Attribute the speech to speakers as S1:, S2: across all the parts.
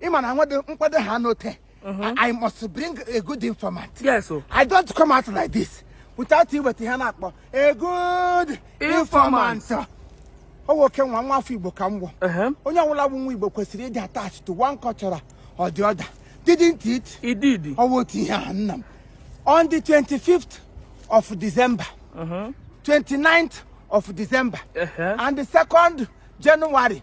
S1: ị ma na nwedị nkwado ha n'ote mhm. I must bring a good informant yes oh. I
S2: don't come out
S1: like this without iweta ihe a na-akpọ a good informant ọ nwoke nwa nwa afọ Igbo ka m wụ uh-huh. onye ọbụla bụ nwa Igbo kwesịrị ịdị attached to one culture or the other didn't it? It did. Ọ bụ
S2: otu ihe a
S1: nna m on the 25th of December uh -huh. 29th of December uh -huh. and the 2nd January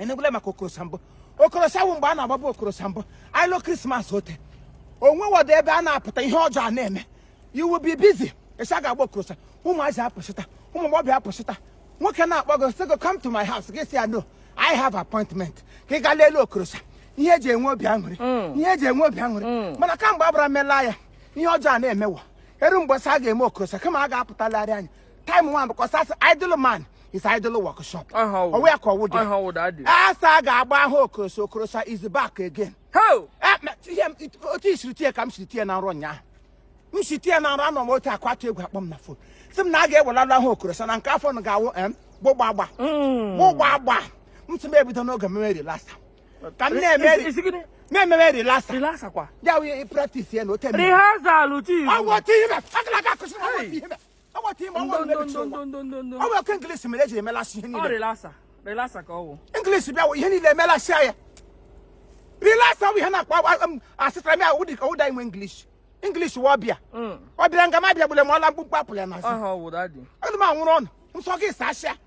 S1: ị nụbula maka okorosa mbụ okorosa wụ mgbe a na-agbaba okorosa mbụ ị lọ krismas ote onwe wọdụ ebe a na-apụta ihe ọjọọ a na-eme you will be busy a sị a ga-agba okorosa ụmụazị apụsịta ụmụ agbọghọbịa apụsịta nwoke na-akpọ gị sị gị come to my house gị sị ya no I have appointment ka ị gaa lele okorosa ihe eji enwe obi aṅụrị mm. ihe eji enwe obi aṅụrị mm. mana kamgbe abara mela ya ihe ọjọọ a na-emewa eru mgbe a sị a ga-eme okorosa kama a ga-apụtalarị anya time one because that's idle man is idle workshop Ahụ. ọwụ ya ka ọwụ dị Ahụ ọwụ dị, adị. a sị a ga-agba ahụ okorosa okorosa is back again Ho! Eh, ma-
S2: ihe m- it-
S1: otu i siri tie ka m siri tie na nrọ ụnyaahụ m si tie na nrọ anọ m otu akwatu egwu akpọ m na fon sị m na a ga-ewelala ahụ okorosa na nke afọ na ga-awụ em gbụgbagba gbụgbagba m sị m ebido n'oge meme rilasa ka m na-eme Isi- isi gịnị? na-ememe rilasa Relax kwa. ya
S2: wụ ihe practice
S1: ya na ote Rehearsal, chief. ọwụ
S2: otu ihe akala
S1: ga-akụsị na ọwụ otu ihe ọwụ otu ihe ọwụ mmebi chi ụwa ọwụ okwu inglis mere eji emelasị ihe niile
S2: inglis bịa ihe niile
S1: emelasị ya rilasa ọwụ ihe na-akpa asịtara m ya ụdị ka ụda inwe inglis inglis wa ọbịa ọbịa nga m abịa gbule m ọla mkpụmkpụ apụla ya n'azụ ọdụ
S2: m anwụrụ ọnụ
S1: nsọ gị saa asịa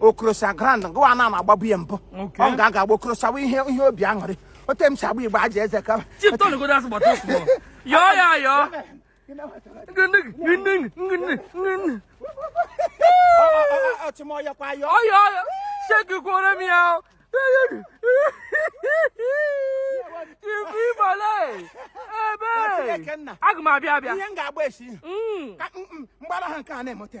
S1: okorosa ground gụwa ana m agbabu ya mbụ ọ m ga-aga agba okorosa bụ ihe ihe obi aṅụrị ote m si agba igbo aja eze ka
S2: yọọ ya yọọ ṣégikworo mi ya o ibu ibole ebe aga m abịa abịa ihe m ga-agba esi
S1: mgbara ha nke a na-eme ote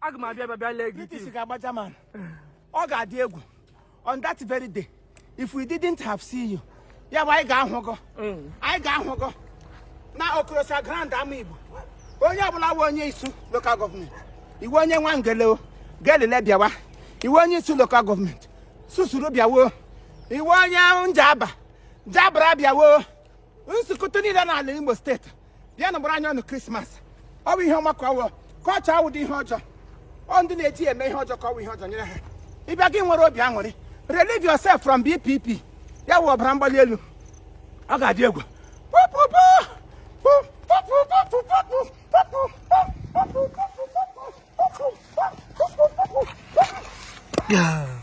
S2: aga m abịa bịa lee gị British ga-agba German ọ ga-adị egwu on that very day if we didn't have seen you ya wụ anyị ga-ahụ gọ mm. anyị ga-ahụ gọ na okorosa ground Amaigbo onye ọbụla wụ onye Isu lokal gọọmenti ị wụ onye Nwangele gelele bịawa ị wụ onye Isu lokal gọọmenti susuru bịawo ị wụ onye Njaba jabara bịawo nzukọta niile n'ala Imo steeti bịanụ gbara anya ọnụ krismas ọ bụ ihe ọma ka ọwụ culture awụdị ihe ọjọọ ọ ndị na-eji ya eme ihe ọjọọ ka ọwụ ihe ọjọọ nyere ha ị bịa gị nwere obi aṅụrị relieve yourself from BPP ya wụ ọbara mgbali elu ọ ga-adị egwu Yeah.